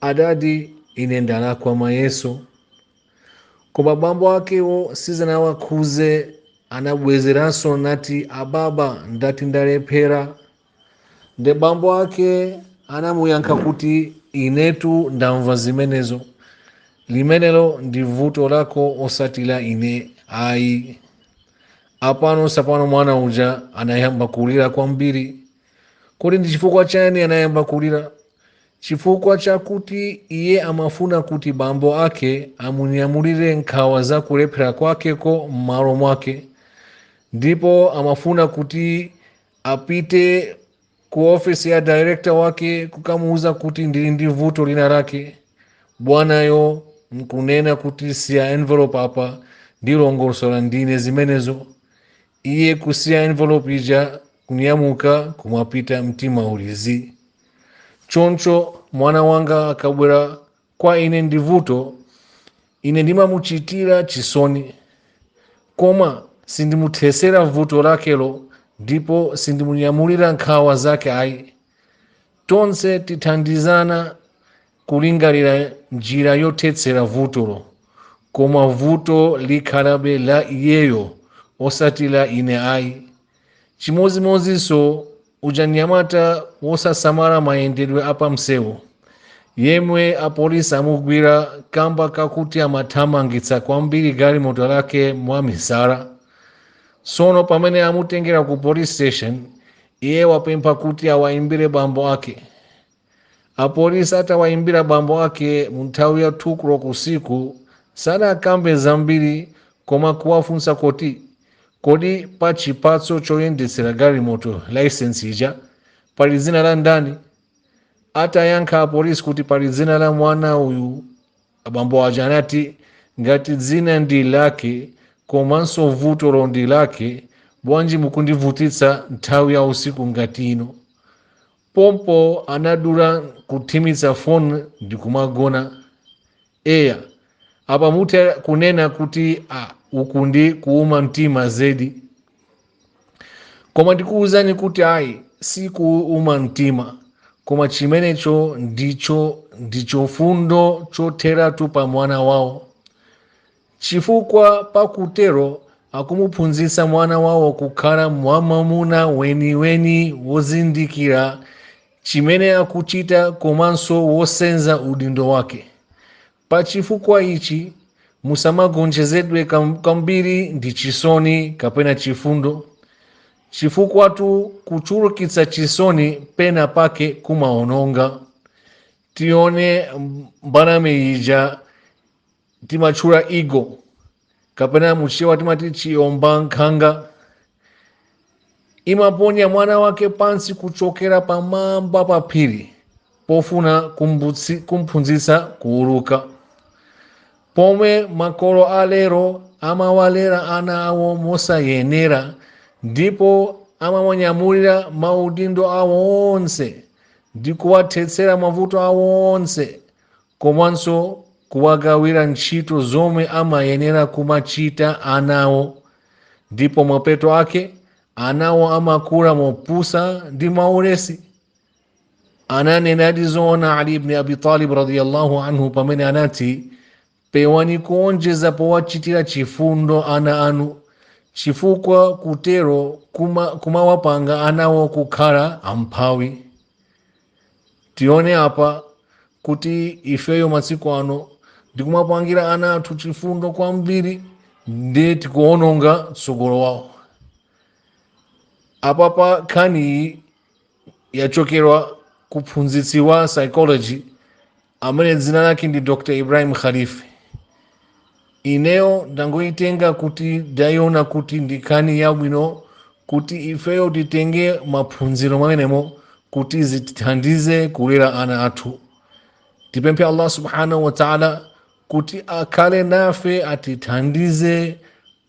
Adadi, ine ndalakwa mayeso. Koma bambo akewo sizanawakhuze anabwezeranso nati ababa ndati ndalephera. Nde bambo ake anamuyankha kuti inetu ndamva zimenezo. Limenelo ndi vuto lako osati la ine ayi. Apano sapano mwana uja anayamba kulira kwambiri. kodi ndi chifukwa chani anayamba kulira chifukwa chakuti iye amafuna kuti bambo ake amunyamulire nkhawa za kulephera kwakeko m'malo mwake ndipo amafuna kuti apite ku ofisi ya director wake kukamuuza kuti ndili ndi vuto lina lake bwanayo nkunena kuti siya envelope apa ndilongosola ndine zimenezo iye kusiya envelope ija kunyamuka kumapita mtima uli zii choncho mwana wanga akabwera kwa ine ndi vuto ine ndimamuchitira chisoni koma sindimuthesera vuto lakelo ndipo sindimunyamulira nkhawa zake ayi tonse tithandizana kulingalira njira yothetsera vutolo koma vuto likhalabe la iyeyo osati la ine ayi chimodzimodzinso uja mnyamata wosasamala mayendedwe apamsewu yemwe apolisi amugwira kamba kakuti amathamangitsa kwambiri galimoto lake mwamisala tsono pamene amutengera ku police station Iye wapempha kuti awaimbire bambo ake. Apolisi atawaimbira bambo ake mu nthawi ya 2 koloko usiku, sanakambe zambiri koma kuwafunsa kuti, Kodi pa chipatso choyendetsera galimoto, laisensi ija, pali dzina la ndani? Atayankha apolisi kuti pali dzina la mwana uyu, Abambo aja anati, Ngati dzina ndi lake komanso vutolo ndi lake, bwanji mukundivutitsa nthawi ya usiku ngati ino? Pompo anadula kuthimitsa foni ndi kumagona. Eya, apa mutha kunena kuti, uku ndi kuuma mtima zedi! koma ndikuwuzani kuti ayi sikuuma mtima koma chimenecho ndi chifundo chotheratu pa mwana wawo chifukwa pakutero akumuphunzitsa mwana wawo kukhala mwamuna weniweni wozindikira chimene akuchita komanso wosenza udindo wake Pa chifukwa ichi, musamagonjezedwe kwambiri ndi chisoni kapena chifundo, chifukwatu kuchulukitsa chisoni pena pake kumaononga. Tione mbalame yija timatchula Eagle. kapena muchewa timati chiombankhanga imaponya mwana wake pansi kuchokera pamwamba pa phiri pofuna kumphunzitsa kuuluka pomwe makolo alero amawalera ana awo mosayenera ndipo amawanyamulira maudindo awo onse ndi kuwathetsera mavuto awo onse komanso kuwagawira ntchito zomwe amayenera kumachita anawo ndipo mapeto ake anawo amakula mopusa ndi mwaulesi ananenadi zoona ali ibni abi talib radiallahu anhu pamene anati pewani kuonjeza powachitira chifundo ana anu chifukwa kutero kumawapanga anawo kukhala amphawi tione apa kuti ifeyo masiku ano ndikumapangira ana athu chifundo kwambiri ndi tikuononga tsogolo wawo apapa nkhani iyi yachokera kwa mphunzitsi wa psychology amene dzina lake ndi dr ibrahim khalife ineyo ndangoyitenga kuti ndayiona kuti ndi nkhani yabwino kuti ifeyo titenge maphunziro mwamenemo kuti zitithandize kulera ana athu tipemphe allah subhanahu wataala kuti akhale nafe atithandize